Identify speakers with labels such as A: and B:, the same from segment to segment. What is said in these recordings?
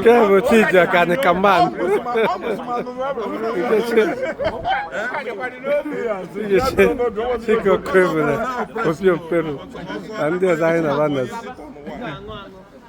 A: nke bụ Chijioke anyị ka mma Chike Okoebele opi okpere na ndị ọzọ anyị na fa nọzi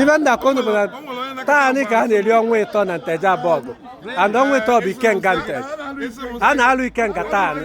A: ife m na-akọ unu bụ na taa nị ka a na-eri ọnwa ịtọ na Nteje Abọgụ and ọnwa ịtọ bụ ikenga Nteje a na-alụ ikenga taa nị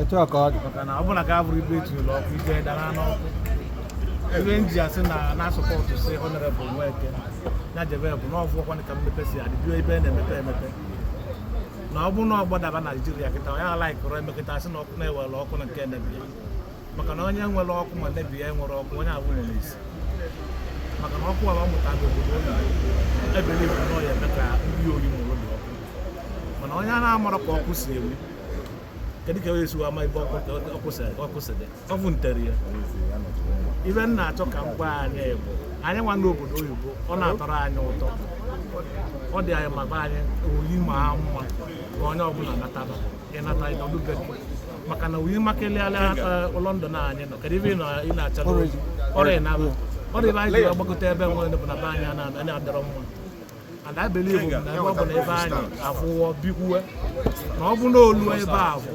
B: etu
A: a ka ọ dị maka na ọ bụla ka
B: abụrụ ibe etu ụlọ ọkụ ije dara n'ọkụ ife m ji asị na na-asupport si honorable Nweke ya jebe bụ na ọ fụgokwanị ka mmepe si adị bido ebe na-emepe emepe na ọ bụrụ na ọ gbadaba Naijiria kịta ya alaikụrụ emekịta asị na ọkụ na-ewere ọkụ na nke emebi ya maka na onye nwere ọkụ ma mebi ya nwere ọkụ onye abụ nwere isi maka na ọkụ ala ọ mụta ndị obodo ụlọ I believe na ọ ya eme ka ndị oyi mụrụ dị ọkụ mana onye a na-amara ka ọkụ si enwu kedu ka esi ama ife ọkwụsịdị ọ bụ ntere ya ife m na-achọ ka m gwa anyị bụ anyị nwa n'obodo oyibo ọ na-atọrọ anyị ụtọ ọ dị anyị mma ka anyị oyi ma mma ka onye ọbụla nataba ịnata ịnọdụbe maka na oyi makalịa na London anyị nọ kedu ife ị na-achọ ọrịa na ọ dị ife anyị ji agbagote ebe nwa bụ na be anyị adịrọ mma and I believe na ebe ọ bụla ebe anyị afụwọ bikwuwe na ọ bụ na olu ebe a bụ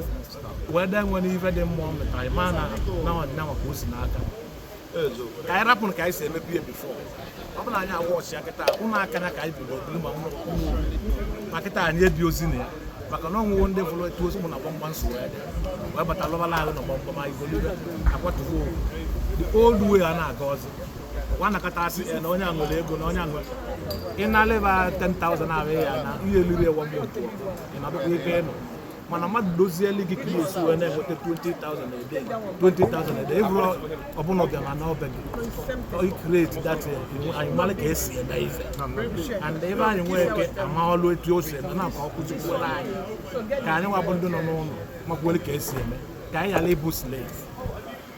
B: wee dee nwere ife dị mma ọ mụtara ịma na na ọdịna maka o si n'aka ka anyị rapụrụ ka anyị si emepe ya before ọ bụla anyị agwa ọchịa kịta ụnọ akanya ka anyị bido biri ma ụmụ ma kịta anyị ebirozi na ya maka na o nwewo ndị fụrụ etu o si mụ ụnọ gbamgbam so wee dị wee bata lụbala ụnọ gbamgbam anyị golibe akwatugo the old way a na-aga ọzọ nwanakọta asị na onye a nwere ego na onye a nwere ị na-aleba 10,000 ahụ ya na ihe eliri ewa mmụọ ị na-abụkwa ibe ịnụ mana mmadụ kuzieli gị ka ihe esi wee na-enweta 20,000 a day 20,000 a day ị bụrụ ọbụla ọbịa ma na ọbịa gị create that anyị mara ka esi eme ife and ebe anyị nwee ike amalụ etu o si eme na ka ọ kụzikwere anyị ka anyị nwa bụ ndị nọ n'ụlọ makwere ka esi eme ka anyị ghara ịbụ slave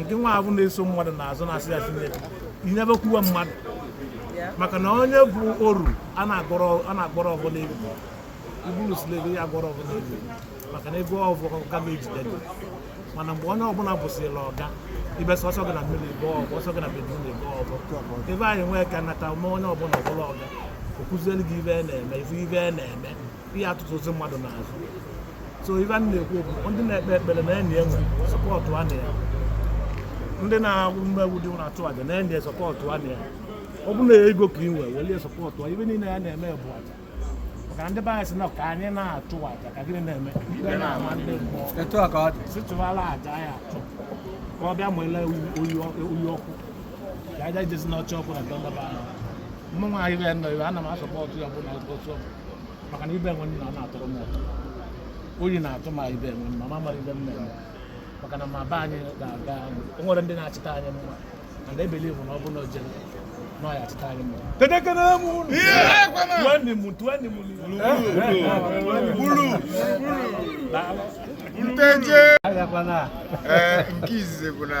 B: nke nwa bụ na-eso mmadụ n'azụ na-asị ya sinye inyebe kwuwe mmadụ maka na onye bụ oru a na-agọrọ ọbụ n'egwu ị bụrụ slave ya agọrọ ọbụ n'egwu maka na ife ọbụ ka ga-ejide gị mana mgbe onye ọbụla bụsịla ọga ibe sọsọ gị na million ife ọbụ ọ sọ gị na billion ife ọbụ ife anyị nwee ka nata ma onye ọbụla abụlụ ọga ọ kụzielu gị ife ọ na-eme ife ibe na-eme ihe atụtụ ozi mmadụ n'azụ so ive a na-ekwu bụ ndị na-ekpe ekpere na enyi enwe sọpọtụ a na ya ndị na-agọ mmụọ bụ ndị na-achụ aja na enyi sọpọtụ a na ya ọ bụrụ na ego ka ị nwee welie sọpọtụa ive niile ya na-eme bụ aja maka ndị be anyị si na ka anyị na-achụ aja ka gịnị na-eme ikpe na-ama ndị mmụọ etu a ka ọ dị si chụwala aja anyị achụ ka ọ bịa mụla oyi ọkụ ka aja jezi n'ọchị ọkụ na ndọba ahụ mụnwa ibe nọ ibe ana m asọpọtụ ya ọbụla otu ọ bụ maka na ibe enwe nna na-atọ m ụtọ oyi na-atụ ma ibe enwe nna ma mara ive m na-eme maka na ma be anyị ga-aga o nwere ndị na-achịta anyị mma and I believe na ọ bụ na o jere na ọ ya achịta anyị mma Kedekere m unu. tueni m
C: tueni m Nteje. agakwana Ee, nke izizi bụ na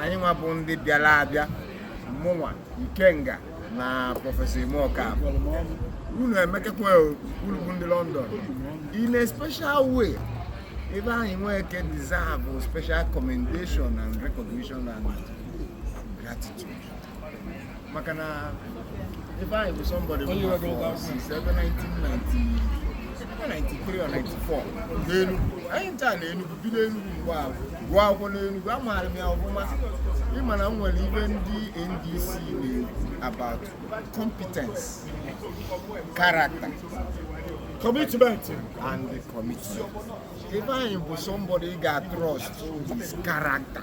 C: anyị nwa bụ ndị bịara abịa mụnwa Ikenga na prọfesọ imeọka unu emekekwa unu bụ ndị London in a special way Ifeanyị Nweke deserve special commendation and recognition and gratitude maka na Ifeanyị bụ somebody bụ n'afọ since ebe 1993 or 94 n'Enugu anyị ncha na Enugu bi n'Enugu mgbe ahụ gụọ akwụkwọ n'Enugu amaara m ya ọfụma ị ma na e nwere ive ndị NDC na-ekwu about competence character commitment and the commitment Ifeanyị bụ somebody ga-trust his character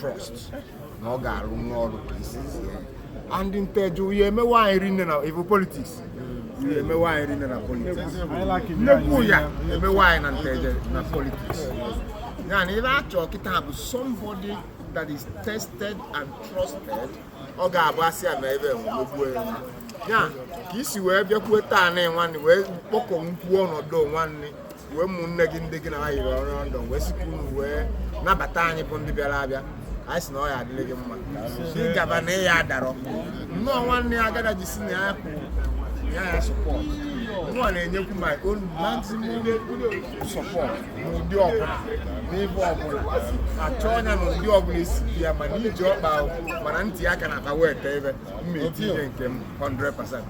C: trust na ọ ga-arụ nwa ọrụ ka isi zie and Nteje ive emewe anyị rinne na ive politics ive emewe anyị rinne na politics nnekwu ya emewe anyị na Nteje na politics ya na ive a chọ kịta bụ somebody that is tested and trusted ọ ga-abụ asị ya na ebe enwegbuo ya ya ka isi wee bịakwuo taa na nwanne wee kpọkọ nkwuo ọnọdụ nwanne wee ụmụnne gị ndị gị na ha yiri ọrụ ndụ wee sikwuo wee nabata anyị bụ ndị bịara abịa anyị si na ọ ya adịrị gị mma ịgaba na ị ya adarọ nnọọ nwanne ya agada ji si na ya kwụ ya ya support nwa na-enyekwu my own maximum support n'ụdị ọbụla n'ebe ọbụla a chọọ ya na ụdị ọbụla esi dị ya ma na iji ọkpa ahụ ma na itinye aka n'akpa weta ive m ya etinye nke m 100%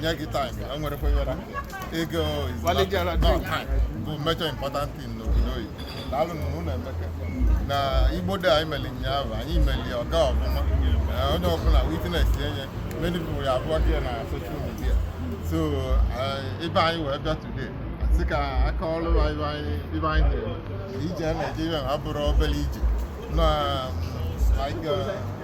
D: nye gị time ya nwerekwa ihe na ego is not- Walijara no, drink. time bụ major important thing n'obodo oyibo daalụ na unu emeka na igbo dị anyị meli ụnyaahụ anyị meli ọ gaa ọfụma Eh, onye ọbụla witness enye many people ya abụọ gị na social media so eh, ive anyị wee bịa today sị ka a kọọrọ ibe anyị ive anyị na-eme ije Naịjirịa abụrọ obere ije na like eh,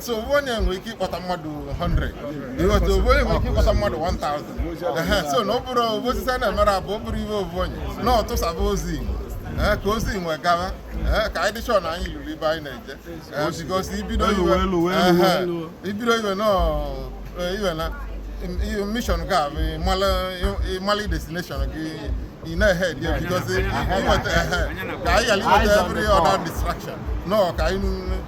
D: so ovu onye nwere ike ịkpọta mmadụ 100 ịghọta ovu onye nwere ike ịkpọta mmadụ 1000 so na ọ bụrụ ovu osisi a na-emere abụ ọ bụrọ ive ovu onye na ọtụsaba ozi igbo ee ka ozi nwe gawa ee ka anyị dị sure na anyị luru ebe anyị na-eje ee because ibido ive ibido ive nọ iwe na mission gị abụ ịmala destination gị ị na-ehead because inweta ehe ka anyị ghara inweta every other distraction no ka anyị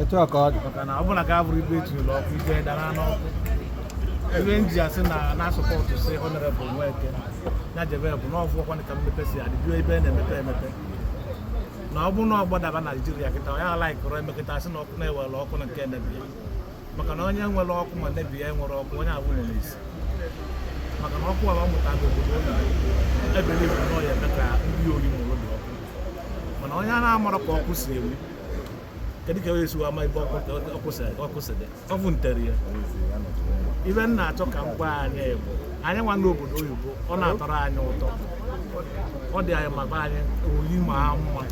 D: etu a ka ọ
A: dị maka na ọbụla ka
D: abụrụ ebe e tinyere ọkụ ike dara n'ọkụ ive m ji asị na na-asupportsi honorable Nweke ya jebe bụ na ọ fụwokwa ka mmepe si adị bido ebe a na-emepe emepe na ọ bụrụ na ọ gbadaba Naijiria kịta ya alaikọrọ emekịta asị na ọkụ na-ewere ọkụ na nke neighbour ya maka na onye nwere ọkụ ma neighbour ya nwere ọkụ onye avụ nwere isi maka na ọkụ ala ọ mụta bụ obodo oyibo ebere ibu na ọ ya eme ka ndị Oyi mụrụ dị ọkụ mana onye a na-amara ka ọkụ si ewu kedu ka esi ama ebe ọ kwụsịrị ọ bụ ntere ya ive m na-achọ ka m gwa anyị bụ anyị
B: nwa n'obodo oyibo ọ na-atọrọ anyị ụtọ ọ dị anyị mma ka anyị Oyi maa mma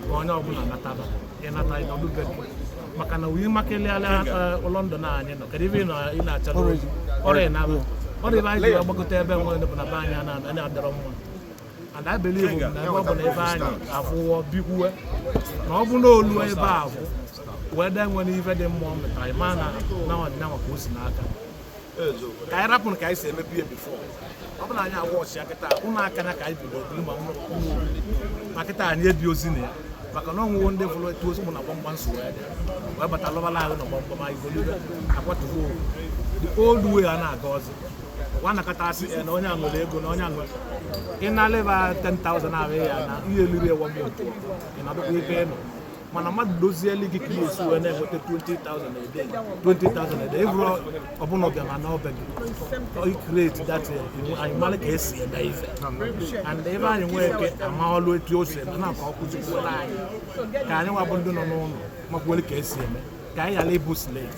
B: ka onye ọbụla nataba ịnata nọdụ be maka na Oyi makalịala eh, London anyị nọ kedu ive ị na-achọ ọrịa na ọ dị ive anyị ji agbagote ebe nwere bụ na be anyị na-adịrọ mma and I believe na ebe ọ bụ na ebe anyị afụwọ bikwuwe na ọ bụ na o lu ebe avụ wee dee nwere ife dị mma ọ mụtara ịma na na ọdịnanwa ka o si n'aka ka anyị rapụrụ ka anyị si emepe ya before ọ bụ na anyị agwa ọchịa kịta ụlọ akanya ka anyị bido biri ma ụlọ ma kịta anyị ebirọzi na ya maka na o nwewo ndị fụrụ etu ozi mụ na gbamgbam so wee dị wee bata lọbala ahụ na gbamgbam anyị golibe akwatugo the old way a na-aga ọzọ nwa na-akọta sị na onye a nwere ego na onye a nwere ị na-aleba 10,000 ahụ ya na ihe eliri ewa mmụọ ị na-adọkwa ebe ị nọ mana mmadụ kụzieli gị ka ihe esi wee na-enweta 20,000 a day 20,000 a day ị bụrụ ọbụla ọbịa ma na ọbịa gị create that anyị mara ka esi eme ife and ive anyị nwee ike ama ọlụ etu o si eme na ka ọ kụzikwuola anyị ka anyị nwa bụ ndị nọ n'ụlọ makwuole ka esi eme ka anyị ghara ịbụ slave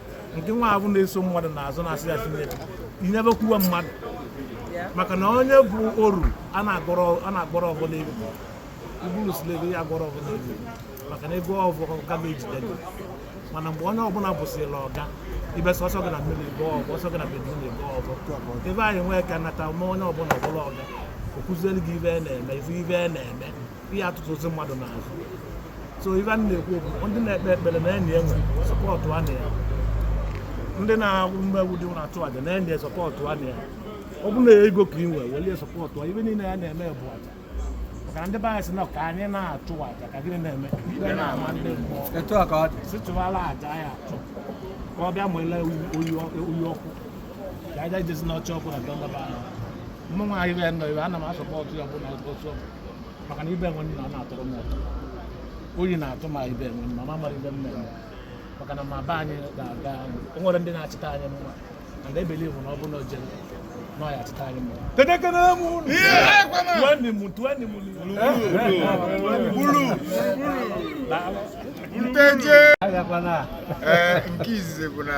B: nke nwa avụ na-eso mmadụ n'azụ na-asị ya Chineke inyebe kwuwe mmadụ maka na onye bụ oru a na-agọrọ ọgụ n'elu ị bụrụ slave ya agọrọ ọgụ n'elu maka na ego ọgụ ka ga-ejide gị mana mgbe onye ọbụla bụsịla oga ive sọsọ gị na mmiri ego ọgụ ọsọ gị na bedroom ego ọgụ ive anyị nwee ka nata ma onye ọbụla ọbụla oga ọ kụziere gị ibe na-eme ife ibe na-eme ihe atụtụzi mmadụ n'azụ so ife a na-ekwu bụ ndị na-ekpe ekpere na enyi enwe sọpọtụ a na ya ndị na-agwụ mmegbu dị na-achụ aja na enyi sọpọtụ a na ya ọ bụrụ na ego ka ị nwee welie sọpọtụ a ife niile ya na-eme bụ aja maka na ndị be anyị si na ka anyị na-achụ aja ka gịnị na-eme ikpe na-ama ndị mmụọ etu a ka ọ dị si chụwala aja ya achụ ka ọ bịa mụla oyi ọkụ ka aja jezi n'ọcha ọkụ na ndọba ahụ mụnwa ahịrị ya nọ ebe ana m asọpọtụ ya ọbụla otu ọ bụ maka na ife enwe nna na-atọrọ m ụtọ oyi na-atụ ma ibe enwe nna ma mara ife m na-eme maka na ma be anyị ga-aga o nwere ndị na-achịta anyị mma and I believe na ọ bụrụ na o jere na ọ ya achịta anyị mma kedekere m unu tueni m
C: tueni m Nteje agakwana a ee nke izizi bụ na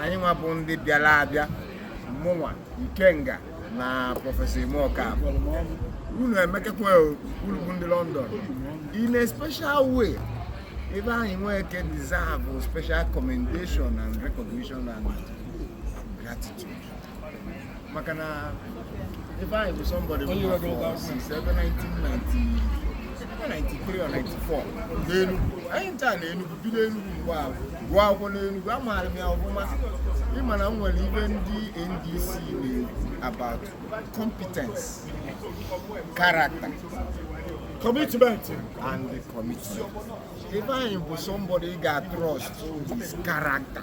C: anyị nwa bụ ndị bịara abịa mụnwa Ikenga na prọfesọ imeọka unu emekekwa unu bụ ndị London in a special way Ifeanyị Nweke deserve special commendation and recognition and gratitude maka na Ifeanyị bụ somebody since 1993 or 94 n'Enugu anyị ncha na Enugu bi n'Enugu mgbe ahụ gụọ akwụkwọ n'Enugu amaara m ya ọfụma ịma na m nwere ife ndị NDC na-ekwu about competence character commitment and commitment Ifeanyị bụ somebody ga-trust his character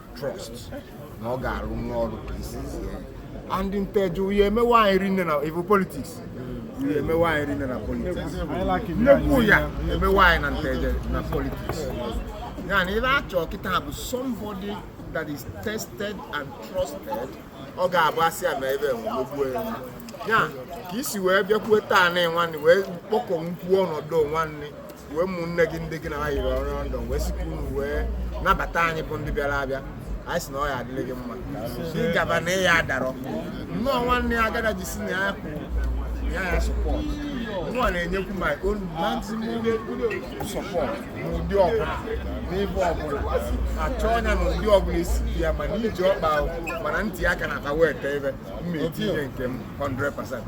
C: trust na ọ ga-arụ n'ọrụ ka e si zie and Nteje ife emewe anyị rinne na ife politics ife emewe anyị rinne na politics nnekwu ife emewe anyị na Nteje na politics ya na ife a chọ kịta bụ somebody that is tested and trusted ọ ga-abụ asị ya ma ebe enwegbuo ya ya ka isi wee bịakwuo taa na nwanne wee kpọkọ nkwuo ọnọdụ nwanne wee ụmụnne gị ndị gị na ha yiri ọrụ ndụ wee sikwa unu wee nabata anyị bụ ndị bịara abịa anyị si na ọ ya adịrị gị mma ịgaba na ịya adarọ nnọọ nwanne ya agada ji si na ya kwụ ya ya support nnọọ na-enyekwu my own maximum support n'ụdị ọbụla n'ebe ọbụla a chọọ ya na ụdị ọbụla esi dị ya ma na iji ọkpa ahụ ma na iti aka na aka wee tee ebe mma etinye nke m 100%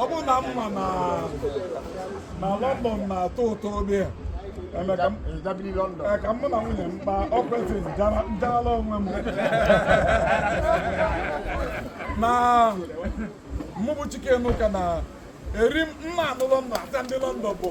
B: ọ bụrụ na mma na na London na-atọ ụtọ obi a eme ka m- Ndabiri London. ee, ka mụ na nwunye m kpaa ọkwentị njara njarala onwe m na mụ bụ Chike Enuka na eri m nna anụ London ata ndị London bụ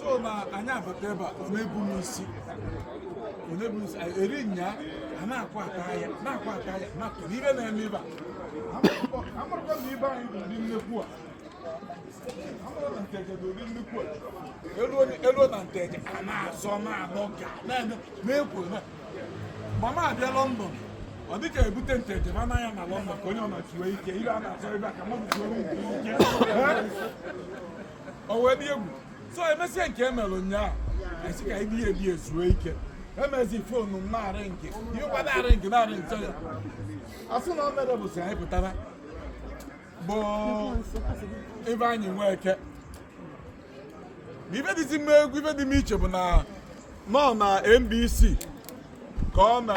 B: so na anyị abata ebe a na-ebu m isi na-ebu m isi eri nya a na-akwa ata ya na-akwa ata ya na-akwa n'ihe na-eme ife a amarụkwa na Ifeanyi bụ ụdị nnekwu a amụrụ na nteje bụ ụdị nnekwu a elu na nteje a na-azọ na-anọ ga na-eme na-ekwu na ba na-abịa lọndọn ọ dị ka ebute nteje ma anaghị na lọndọn ka onye ọ na-achụwe ike ibe a na-azọ ebe a ka mmadụ zuo ike o wee dị egwu so emesịa nke e mere ụnyaahụ esi ka ibi ebi ezuo ike emezi fonu m na-aring ihe ụkwa na-aring na-aring ya asị na o mere bụ si anyị pụtara bụ Ifeanyi Nweke ma ife dịzi m egwu ife dị m iche bụ na nọ na NBC ka ọ na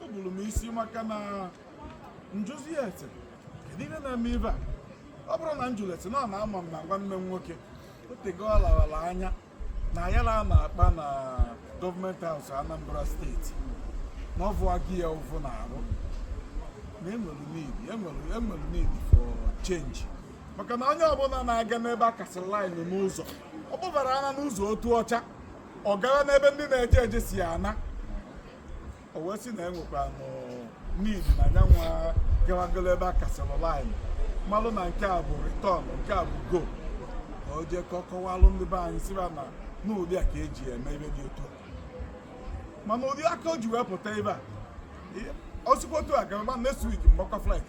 B: o buru m isi maka na njụzia ete kedu ihe na-eme ife a ọ bụrụ na njulete na ọ na-ama m na nwanne m nwoke otego ọ larala anya na ayala a na-akpa na government house anambra steeti na
E: ọ vụọ gị ya ụvụ n'arụ na enwere need enwere enwere need for change maka na onye ọbụla na-aga n'ebe a kasịrị line n'ụzọ ọ kpụbara ana n'ụzọ otuocha ọ gara n'ebe ndị na-eje eje si ana o wee sị na enwekwa need na nyanwa gawagolo ebe a kasịrị line malụ na nke a bụ return nke a bụ go ka o jee ka ọ kọwalụ ndị be anyị sị ba na n'ụdị a ka e ji eme ihe dị otu a mana ụdị aka o ji wee pụta ebe a o sikwa otu a gaba na next week mgbakwa flight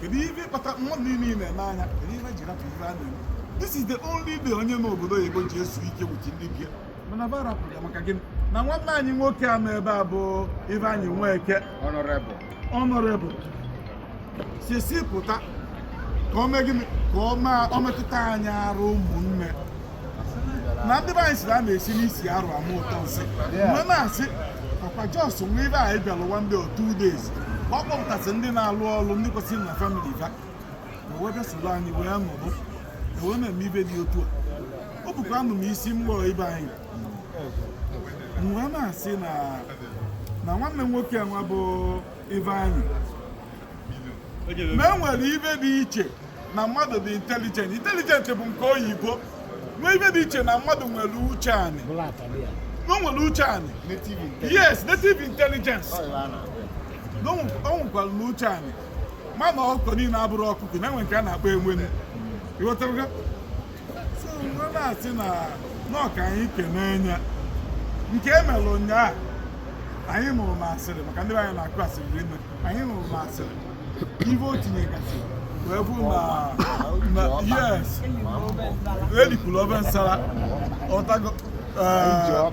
E: kedu ife kpata mmadụ niile na-anya kedu ife ji rapụ ife a na-eme this is the only day onye nọ obodo oyibo ji ezu ike with ndị be ya mana ba rapụrụ ya maka gịnị na nwanne anyị nwoke a nọ ebe a bụ Ifeanyi Nweke honorable honorable si si pụta ka o mee gịnị ka o mee- o metụta anyị arụ ụmụnne na ndị be anyị sịrị a na-esi n'isi arụ ama ụtọ nsị m wee na-asị ọkwa just nwa Ifeanyi bịara one day or two days ọ kpọpụtasị ndị na-alụ ọrụ ndị kwesịrị na famili ha wee bịa soro anyị wee nọrọ wee na-eme ife dị otu a o bukwanụ m isi m kpọrọ Ifeanyi m wee na-asị na nwanne m nwoke nwa bụ Ifeanyi na e nwere ife dị iche na mmadụ dị intelligent intelligent bụ nke oyibo nwee ife dị iche na mmadụ nwere uche anị o nwere uche anị yes native intelligence na o nwekwara na uche anị mana ọkụkọ niile abụrọ ọkụkọ na enwe nke a na-akpọ egbenu ịghọtara na-asị na ọ ka anyị kenee ya nke e mere ụnyaahụ anyị nụrụ n'asịrị maka ndị anyị na-akụ asịrị rinne anyị nụrụ n'asịrị ive o tinyegasị wee bụ na yes elikpuru ove nsara ọ tago eh,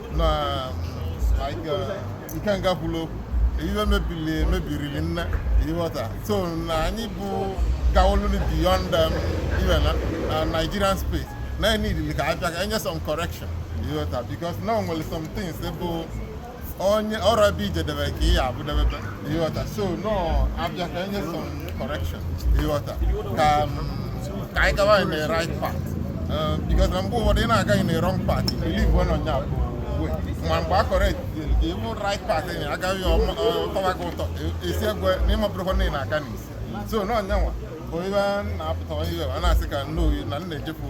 D: na Ikenga kwuru okwu ihe mebiri mebiri rinne ị ghọta so na anyị bụ gawolulu beyond um, even uh, uh, Nigerian space na anyị needili ka a bịa ka e nye some correction ị ghọta because na o nwere some things bụ onye ọrụ ebe i jedebe ka ị ya-avụdebebe ị ghọta so no a bịa ka e nye some correction ị ghọta ka anyị gawa in the right path um, because na mgbe ụfọdụ ị na-aga in the wrong path believe wo na ọ ya bụ ma mgbe a correct ị vụ right path ị agaghị ọ tọwa gị ụtọ esi egwe na ị mabụrụkwa na ị na-aga n'isi so na ọ ya nwa bụ ebe a na-apụta ihe a na-asị ka nne oyi na nna ejepụ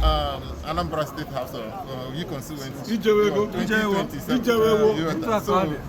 D: um, Anambra State House of Oyi Constituency. Ijewewo,
E: Ijewewo, Ijewewo,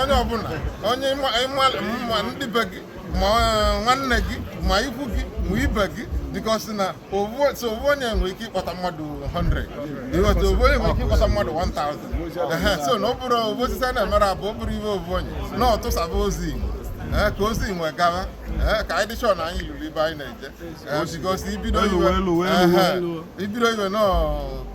D: onye ọbụla onye ma ndị be gị ma eh, nwanne gị ma ikwu gị ma ibe gị because na so ovu onye nwere ike ịkpọta mmadụ 100 ị ghọta ovu onye nwere ike ịkpọta mmadụ 1000 so na ọ bụrọ ovu osisi a na-emere abụ ọ bụrọ ive ovu onye na ọ tụsaba ozi igbo eh, ka ozi wee gawa eh, ka anyị dị sure na anyị luru ebe anyị na-eje eh, because i bido ive i bido ive nọọ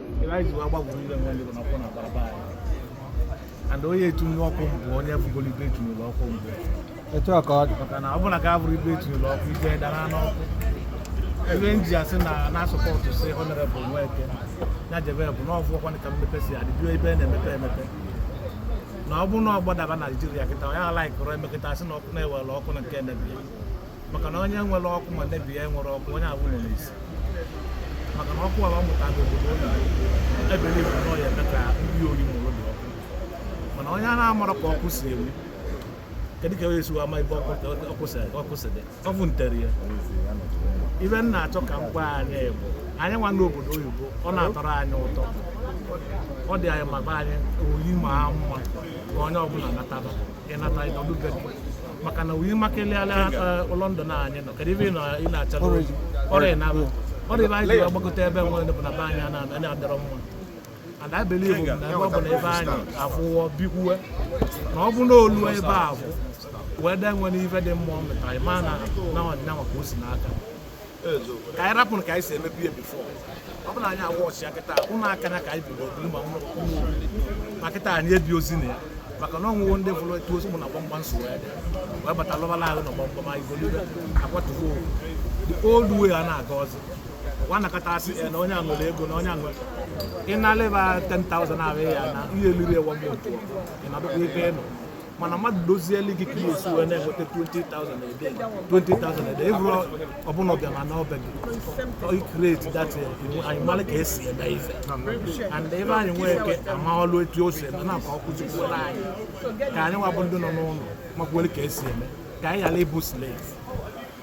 B: ive anyị ji wee gbakwuru ebe nwe ndị bụ na ọkụ na-agbarọ be anyị and onye e tunye ọkụ mbụ onye vụgoro ebe e tunyere ọkụ mbụ etu a ka ọ
A: dị maka na ọ bụ na ka a vụrụ
B: ebe e tunyere ọkụ ive dara n'ọkụ ive m ji asị na na-asupport si honorable Nweke ya jebe bụ na ọ fụ ọkwanị ka mmepe si adị bido ebe a na-emepe emepe na ọ bụrụ na ọ gbadaba Naijiria kịta ọ ya alaikụrụ e mee kịta a sị na ọkụ na-ewere ọkụ na nke emebi ya maka na onye nwere ọkụ ma nne ya nwere ọkụ onye abụ nọ n'isi maka na ọkụ ala mụta n'obodo oyibo ebe niile na ọ ya-eme ka ndị Oyi mụrụ dị ọkụ mana onye na-amarọ ka ọkụ si enwu kedu ka e si ama ebe ọkụ si dị ọ bụ ntere ya ive m na-achọ ka m gwa anyị bụ anyị nwa n'obodo oyibo ọ na-atọrọ anyị ụtọ ọ dị anyị mma ka anyị Oyi maa mma ka onye ọbụla nataba ị nata ị nọdụ be gị maka na Oyi makalịala London a anyị nọ kedu ife ị nọ- ị na-achọ n'oyi ọrịa na abụ ọrịa ive anyị ji agbagote ebe nwere bụ na be anyị ana- anyị adịrọ mma and I believe na ebe ọ bụ na be anyị afụwo bikwuwe na ọ bụ na olu ive a afụ wee dee nwere ife dị mma ọ mịtara ma na na ọdịna maka o si n'aka ka anyị rapụrụ ka anyị si eme ife before ọ bụla anyị awa ọchịa kịta ụlọ akanya ka anyị bido biri ma ụlọ ma kịta anyị ebirozi na ya maka na o nwego ndị fụrụ etu ozi mụ na gbamgbam si wee dị wee bata lọbala ahụ na gbamgbam anyị golibe akwatugo old way a na-aga ọzọ ọkwa nakọta asị ya na onye a nwere ego na onye a nwere ị na-aleba 10,000 ahụ ya na ihe eliri ewa mmụọ ị na-adọkwa ebe ị nọ mana mmadụ dozieli gị ka esi wee na-enweta 20,000 a day 20,000 a day ị bụrụ ọbụla ọbịa na n'ọbịa gị create that anyị mara ka esi eme ife and Ifeanyi Nweke amaalụ etu o si eme na ka ọ kụzikwuolu anyị ka anyị nwa bụ ndị nọ n'ụlọ makwuere ka esi eme ka anyị ghara ịbụ slave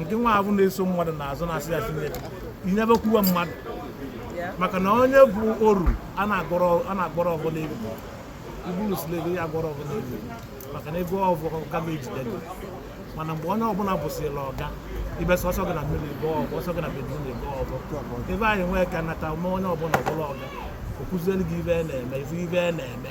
B: nke nwa ahụ na-eso mmadụ n'azụ na-asị ya tinye inyebekwuwe mmadụ maka na onye bụ oru a na-agọrọ ọfọ n'egwu ị bụrụ slave ya agọrọ ọfọ n'egwu maka na ị gọọ ọfọ ka ga-ejide gị mana mgbe onye ọbụla bụsịla ọga ebe sọsọ gị na mmiri gọọ ọfọ ọ sọ gị na bedroom gọọ ọfọ Ifeanyi Nweke anata ma onye ọbụla abụrụ ọga ọ kụzielu gị ife na-eme ife ife na-eme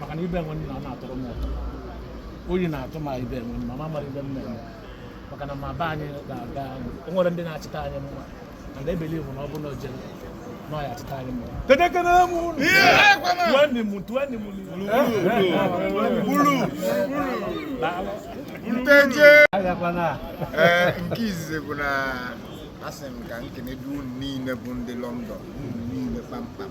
B: maka na ibe enwe nna ọ na-atọrọ m ụtọ oyi na-atụ ma ibe enwe nna ma mara ife m na-eme maka na ma be anyị ga-aga o nwere ndị na-achịta anyị mma and I believe na ọ bụ na o jere na ọ ya achịta anyị mma Ekene m unu. tuweni m
C: tuweni m nteje ee nke izizi bụ na asị m ka m kenedu unu niile bụ ndị London unu niile kpamkpam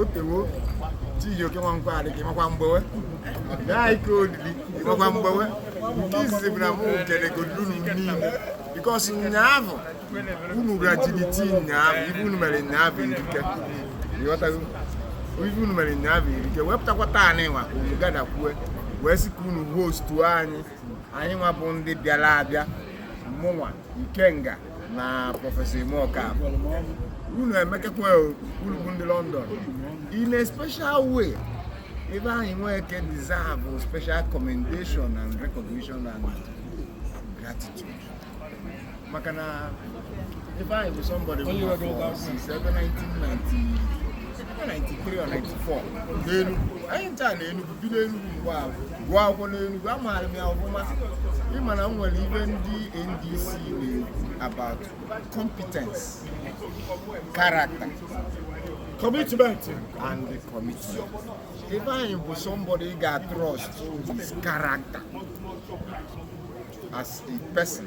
C: otewo Chijioke Nwankwo Adịka ịmakwa mgbewe gaa ike olili ịmakwa mgbewe nke izizi bụ na mụ kenegodu unu niile because nyaahụ unu bịara jiri tii nyaahụ ife unu mere nyaahụ erika ị ghọtago ife unu mere nyaahụ erika wepụtakwa taa na ịnwa unu gadakwue wee sị ka unu hostuo anyị anyị nwa bụ ndị bịara abịa mụnwa ikenga na Professor Imo Okafor unu emekekwa unu bụ ndị London in a special way Ifeanyi Nweke deserve special commendation and recognition and gratitude maka na Ifeanyi bụ somebody bụ afọ since ebe 1993 or 94 n'Enugu anyị ncha na Enugu bi n'Enugu mgbe ahụ gụọ akwụkwọ n'Enugu amaara m ya ọfụma ị ma na e nwere ife ndị NDC na-ekwu about competence character
E: commitment and
C: the commitment Ifeanyi bụ somebody ị ga-trust his character as a person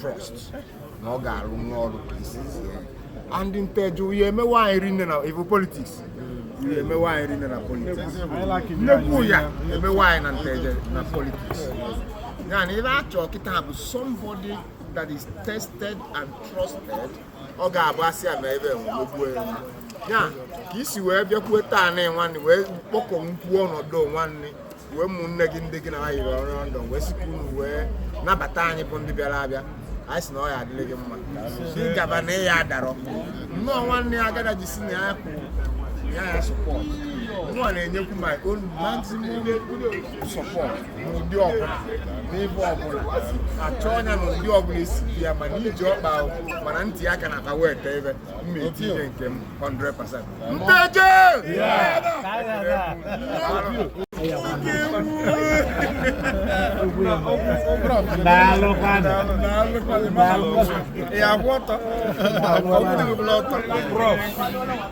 C: trust na ọ ga-arụ nwa ọrụ ka e si zie and nteje ya emewe anyị rinne na ive politics ya emewe anyị rinne na politics nnekwu ya emewe anyị na nteje na politics ya na ive a chọ kịta bụ somebody that is tested and trusted ọ ga-abụ asị a na ebe enwegbuo ya ya ka i si wee bịakwuo taa na nwanne wee kpọkọ nkwuo ọnọdụ nwanne wee ụmụnne gị ndị gị na ha yiri ọrụ ndụ wee sikwa unu wee nabata anyị bụ ndị bịara abịa anyị sị na ọ ya-adịrị gị mma gị gaba na ị ya-adarọ nnọọ nwanne ya agada ji si na ya kwụ ya ya support nnọọ na-enyekwu my own maximum support n'ụdị ọbụla n'ebe ọbụla a chọọ ya na ụdị ọbụla e si bịa ma na ije ọkpa ahụ ma na nti aka na akpa weta ive m na-etinye nke m 100% nteje ya kwụ ọtọ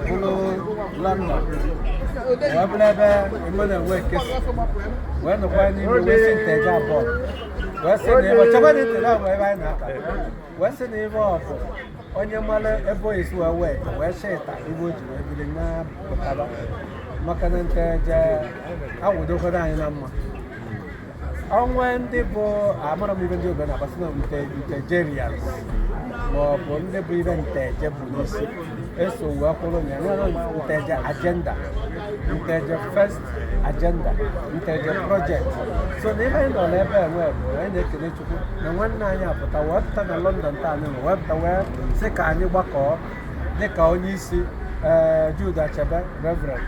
A: bụrụ london wee bụrụ ebe e mere wee ka e si wee nọkwa n'ime wee si nteje abụọ wee sị na ịbọ chekwa na itere abụọ ebe anyị na-aka wee sị na ịbọ ọ bụ onye mara ebe o si wee wee wee sị ịta ive o ji wee biri na pụtara maka na nteje awụdokwara anyị na mma o nwe ndị bụ amara m ive ndị obodo na-agbasị na nte ntejerians ma ọ bụ ndị bụ ive nteje bu n'isi so wee kwụrụ na e nwere nteje agenda nteje first agenda nteje project so na ive anyị nọ n'ebe a nwee bụ anyị na-ekele chukwu na nwanne anyị apụta wee pụta na london taa anyị nọ wee pụta wee sị ka anyị gbakọọ dịka onye isi eh, Jude Achebe Reverend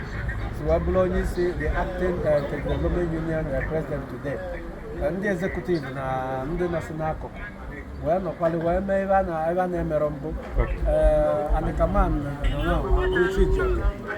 A: si wee bụrụ onye isi the acting eh, Nteje Development Union eh, president today Eh, ndị executive na ndị nọsị n'akụkụ wee nọkwali wee mee ive a na- ive a na-emerọ mbụ Okay. Eh, anyị ka ma na- na- na- Uche Ijeọkụ.